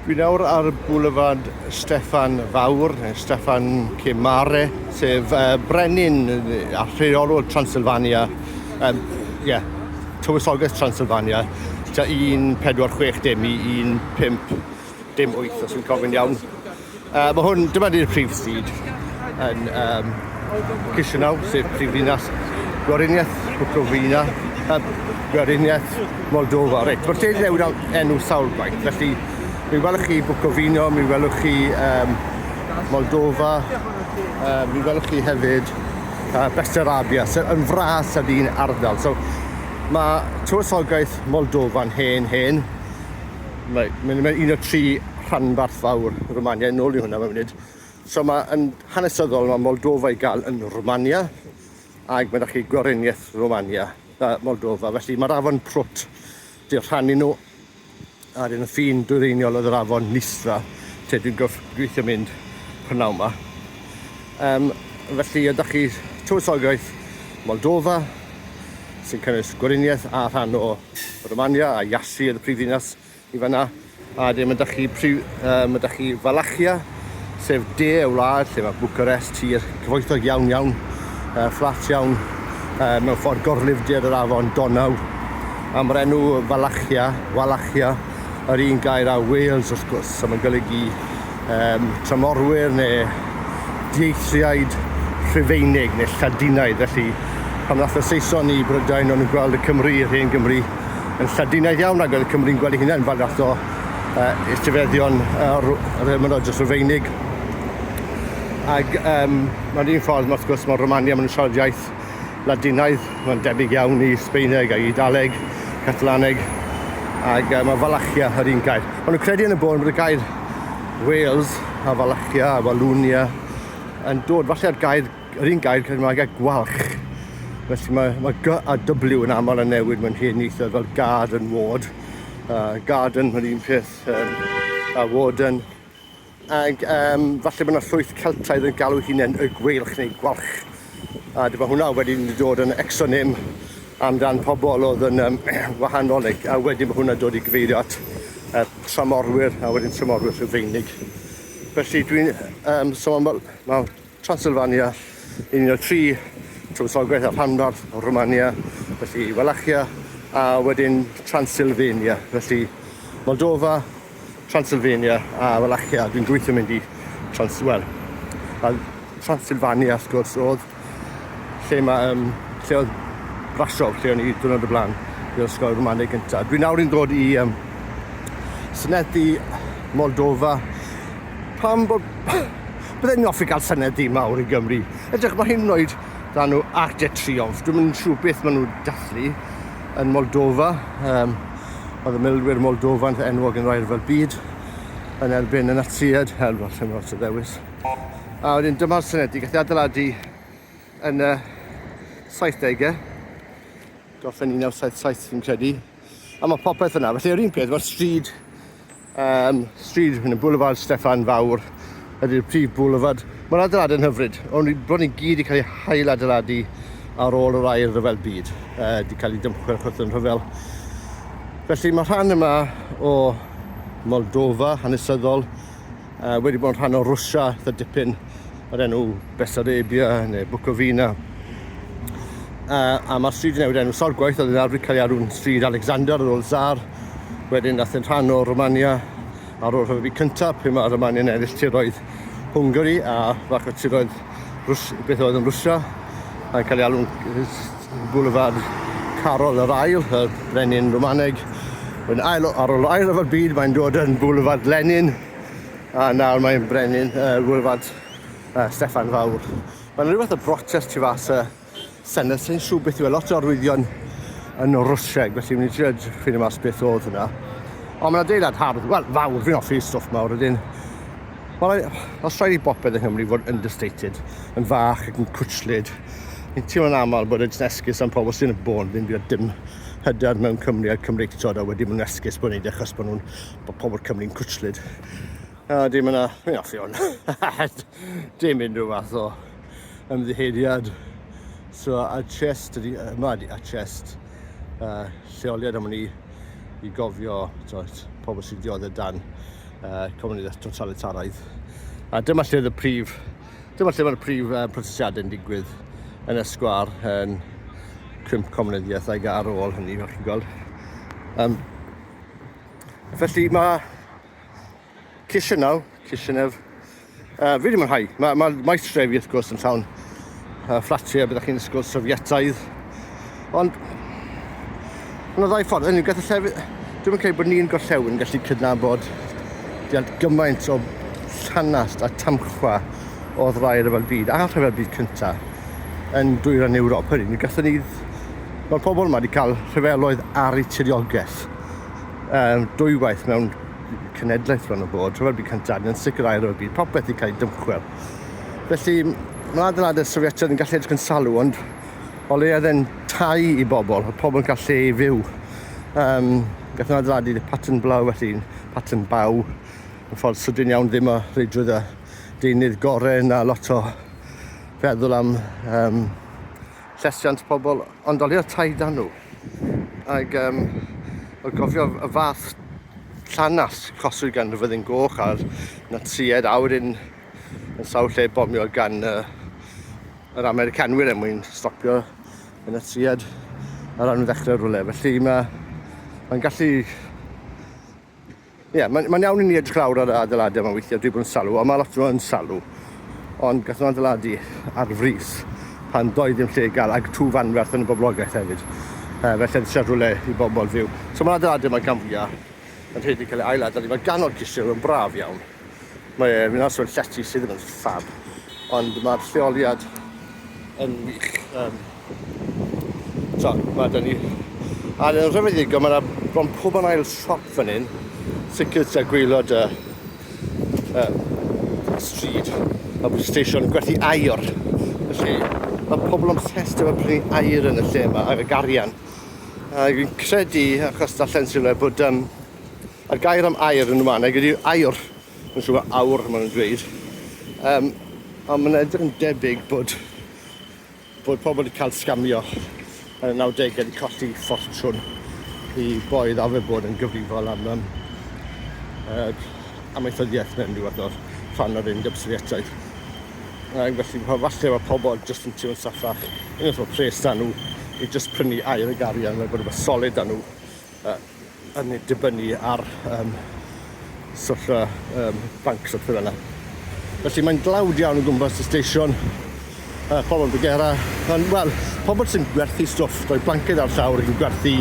Dwi nawr ar Boulevard Steffan Fawr, neu Steffan Cymare, sef uh, brenin a rheolwr Transylvania, um, yeah, tywysoges Transylvania, ta 1460 i 15 dim 8 os fi'n cofyn iawn. Uh, mae hwn, dyma ni'r prif stryd yn um, Chisinau, sef prif ddinas Gwariniaeth Bukovina, uh, Gwariniaeth Moldova. Reit, mae'r lle newid am enw sawl gwaith, felly mi welwch chi Bukovina, mi welwch chi um, Moldova, uh, mi welwch chi hefyd uh, Bestarabia, sef yn fras a dyn ardal. So, mae tywysogaeth Moldofa'n hen, hen. Mae'n un o tri rhanbarth fawr Rwmania, yn ôl i hwnna mae'n munud. So mae yn hanesyddol, mae Moldova i gael yn Rwmania, ac mae da chi Gweriniaeth Rwmania, uh, Moldova. Felly mae'r afon Prwt, di'r rhannu nhw, a dyn y ffin dwyreiniol oedd yr afon Nistra, lle dwi'n gweithio mynd prynawn yma. Um, felly ydych chi tywysogaeth Moldova, sy'n cynnwys Gweriniaeth a rhan o Romania a Iasi oedd y prifddinas I fan'na, a wedyn ma' 'da chi prif- yy ma' 'da chi Valachia, sef de y wlad, lle ma' Bucharest, tir cyfoethog iawn iawn, yy fflat iawn, yy mewn ffordd gorlifdir yr afon Donau, a ma'r enw Valachia, Wallachia, yr un gair â Wales wrth gwrs, so ma'n golygu yym tramorwyr ne' dieithriaid Rhufeinig ne' Lladinaidd, felly pan ddath y Saeson i Brydain o'n nw'n gweld y Cymry, yr hen Gymry, yn Lladinaidd iawn ac oedd y Cymry'n gweld ei hunain fel fath o uh, etifeddion uh, Roman Rogers Rufeinig. Ac um, mae'n un ffordd, wrth gwrs, mae Romania, mae'n siarad iaith Ladinaidd, mae'n debyg iawn i Sbeineg ac Idaleg, Catalaneg, ac uh, mae Falachia yr un gair. Ond nhw'n credu yn y bôn bod y gair Wales a Falachia a Walwnia yn dod falle ar gair Yr un gair Cymraeg a gwalch. Felly mae, mae G a W yn aml yn newid mewn hen ieithoedd fel gad yn ward. Uh, garden, yr un peth, um, a warden. Ac um, falle bod yna llwyth Celtaidd yn galw hunain y gweilch neu gwalch. A dyma hwnna wedyn yn dod yn exonym amdan pobl oedd yn um, wahanol, neu, a wedyn mae hwnna dod i gyfeirio at uh, tramorwyr a wedyn tramorwyr rhufeinig. Felly dwi'n um, sôn, so mae, mae Transylvania, yn un o tri tywysogaeth a rhanbarth o Rwmania, felly Wallachia a wedyn Transylvania, felly Moldova, Transylvania a Wallachia, dwi'n gweithio mynd i Trans... wel, a Transylvania, wrth gwrs, oedd lle mae, um, lle oedd Brasov, lle o'n i dwrnod y blaen, i'r ysgol Romaneg gyntaf. Dwi'n nawr yn dod i um, synethu Moldova, pam bod Bydde ni'n offi gael senedd di mawr i Gymru. Edrych mae hyn wneud dan nhw Arc de Triomphe. Dwi'n mynd siw beth maen nhw dathlu yn Moldova. Um, oedd y milwyr Moldova yn enwog yn rhaid fel byd yn erbyn y Natsiad. Hel, fel lle mae ddewis. A wedyn dyma'r senedd di gath ei adeiladu yn y 70au. Gorffen 1977 fi'n credu. A mae popeth yna. Felly yr un peth, mae'r stryd Um, stryd yn y boulevard Steffan Fawr ydy'r prif boulevard. Mae'r adeiladau'n hyfryd, ond bron i gyd wedi cael eu hail adeiladu ar ôl yr air rhyfel byd, uh, wedi cael ei dymchwel achos yn rhyfel. Felly mae rhan yma o Moldova hanesyddol uh, wedi bod yn rhan o Rwysia dda dipyn yr enw Bessarabia neu Bukovina. A, a mae'r stryd yn newid enw Sorgwaith, oedd yn arfer cael ei arw'n stryd Alexander ar ôl Zar. Wedyn nath yn rhan o Romania ar ôl rhyfel cyntaf, pe mae Romania yn ennill tiroedd Hwngari a fach o tiroedd Rws, beth oedd yn Rwysia, a'n cael ei alw'n Boulevard Carol yr Ail, y brenin Romaneg. Wedyn ail, ar ôl ail rhyfel byd, mae'n dod yn Boulevard Lenin, A nawr mae'n brenin uh, Wylfad uh, Steffan Fawr. Mae'n rhywbeth o brotest tu fas y Senedd sy'n siw beth yw e, lot o arwyddion yn o Rwsieg, felly mynd i trio ffynu mas beth oedd hwnna. Ond mae'n adeilad hardd, wel, fawr, fi'n offi stwff mawr, ydyn. Wel, os rhaid i bopeth yng Nghymru fod understated, yn fach ac yn cwtslyd, ni'n teimlo'n aml bod yn esgus am pobl sy'n y bôn, ddim wedi dim hyder mewn Cymru a'r Cymreictod a wedi bod yn esgus bod yn neud e achos bod nhw'n bod pobl Cymru'n cwtslyd. A dim yna, mi off i hwn. dim unrhyw fath o ymddiheiriad. So, a chest, yma ydi a chest. Uh, lleoliad am ni i gofio tywed, pobl sy'n dioddau dan uh, comunidad totalitaraidd. A dyma lle y prif, dyma lle mae'r prif uh, protestiadau yn digwydd yn y sgwar yn cwmp comunyddiaethau ar ôl hynny, fel chi'n gweld. Um, Felly mae Chisinau, Chisinef, uh, fi wedi mwynhau. Mae, mae maes trefi wrth gwrs yn llawn uh, fflatiau, byddwch chi'n ysgol Sofietaidd. Ond, mae'n ddau ffordd, yn gath y llefydd, dwi'n credu bod ni'n gorllewin gallu cydnabod diant gymaint o llanast a tamchwa o ddrai rhyfel byd a rhyfel byd cyntaf yn dwyran Ewrop. Hynny, ni gathon ni, mae'r pobol yma wedi cael rhyfeloedd ar eu tiriogaeth. um, dwywaith mewn cenedlaeth rhan o bod, rhyfel byd cyntaf, yn sicrhau rhyfel byd, popeth i cael ei dymchwel. Felly, mae adeiladau Sofietaidd yn gallu edrych yn salw, ond o le oedd e'n tai i bobl, oedd pobl yn gallu ei fyw. Um, Gatho adeiladu pattern blaw, felly pattern baw, yn ffordd sydyn iawn, ddim o reidrwydd a deunydd gorau na lot o feddwl am um, llesiant pobl, ond olio tai dan nhw. Ac um, o gofio y fath llanas coswyd gan y fyddin goch a'r natsied a wedyn yn sawl lle bomio gan uh, yr Americanwyr er mwyn stopio y natsied ar ran ddechrau rhywle. Felly mae'n ma gallu Ie, yeah, mae'n ma iawn i ni edrych lawr ar adeiladau yma weithiau, dwi'n bod yn salw, ond mae lot yn salw. Ond gath nhw'n adeiladu ar frys pan doedd ddim lle i gael ag tŵ fanwerth yn y boblogaeth hefyd. Uh, felly yn eisiau rhywle i bobl fyw. So mae adeiladau yma gan fwyaf yn rhaid i cael ei ail-adael i fod ganol cysio, yn braf iawn. Mae e, fi'n aros o'r llety sydd ddim yn ffab, ond mae'r lleoliad yn wych. Um, so, mae da ni... A yn rhyfeddigol, mae yna bron pob yn ail siop fan hyn, sicr tua gweilod y... Uh, uh, stryd, a bod y station gwerthu air. Felly, mae pobl o'n obsessed efo prynu air yn y lle yma, ar y garian. A fi'n credu, achos darllen sy'n rhaid bod um, A'r gair am air yn y mannau ydy aur. Mae'n siŵr mae awr maen nhw'n dweud. Um, ond mae'n edrych yn debyg bod, bod pobl wedi cael sgamio yn y 90au wedi colli ffortiwn i boedd a fe bod yn gyfrifol am um, uh, amaethyddiaeth mewn rhyw fath o rhan o'r Undeb Sofietaidd. Uh, felly, falle mae pobl jyst yn teimlo'n saffach, yn ymwneud â pres da nhw, i jyst prynu air y garian, mae'n bod rhywbeth solid da nhw. yy yn dibynnu ar yym swff y yym banc swff fel yna. Felly mae'n dlawd iawn o gwmpas y stesion yy pobol bigera yn wel pobol sy'n gwerthu stwff rhoi blanced ar llawr yn gwerthu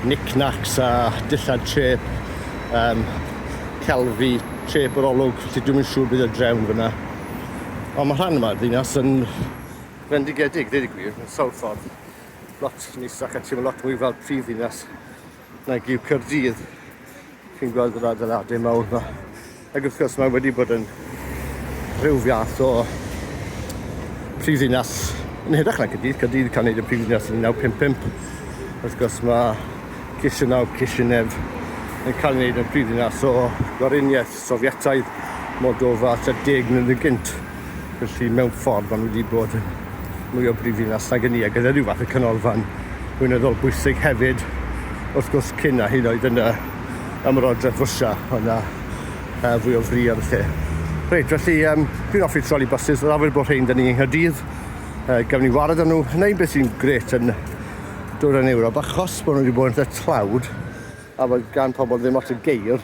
knick-knacks a dillad trep yym celfi trep yr olwg felly dwi'm yn siŵr beth yw'r drefn fyn 'na. Ond ma' rhan yma'r ddinas yn fendigedig deud y gwir mewn sawl ffordd. Lot neisach a teimlo lot mwy fel prif ddinas nag yw Caerdydd. Chi'n gweld yr adeiladau mawr yma. Ac wrth gwrs mae wedi bod yn rhyw fath o prif ddinas yn hirach na Caerdydd. Caerdydd cael gwneud y prif ddinas yn 1955. Wrth gwrs mae Chisinau, Chisinef yn cael ei wneud yn prif ddinas o Gweriniaeth. Sofietaidd, Moldova tua deg mlynedd gynt, felly mewn ffordd maen nhw wedi bod yn mwy o brifddinas nag ynni, a gyda rhyw fath o canolfan weinyddol bwysig hefyd, wrth gwrs, cyn a hyd oedd yn y Ymerodraeth Rwsia, oedd yna uh, fwy o fri ar y lle. Reit, felly, um, dwi'n offi troli bysys, yr awyr bod rhain da ni yng Nghyrdydd, uh, gafon ni wared â nhw, hynna un beth sy'n gret yn dwyrain Ewrob, achos bod nhw wedi bod yn tlawd, a bod gan pobl ddim lot o geir,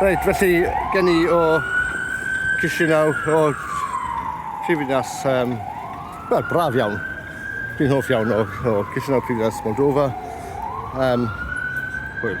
Reit, felly gen i o Chisinau o Prifddinas, um, wel, braf iawn. Dwi'n hoff iawn o, o Chisinau Prifddinas Moldova. Um, hwyl.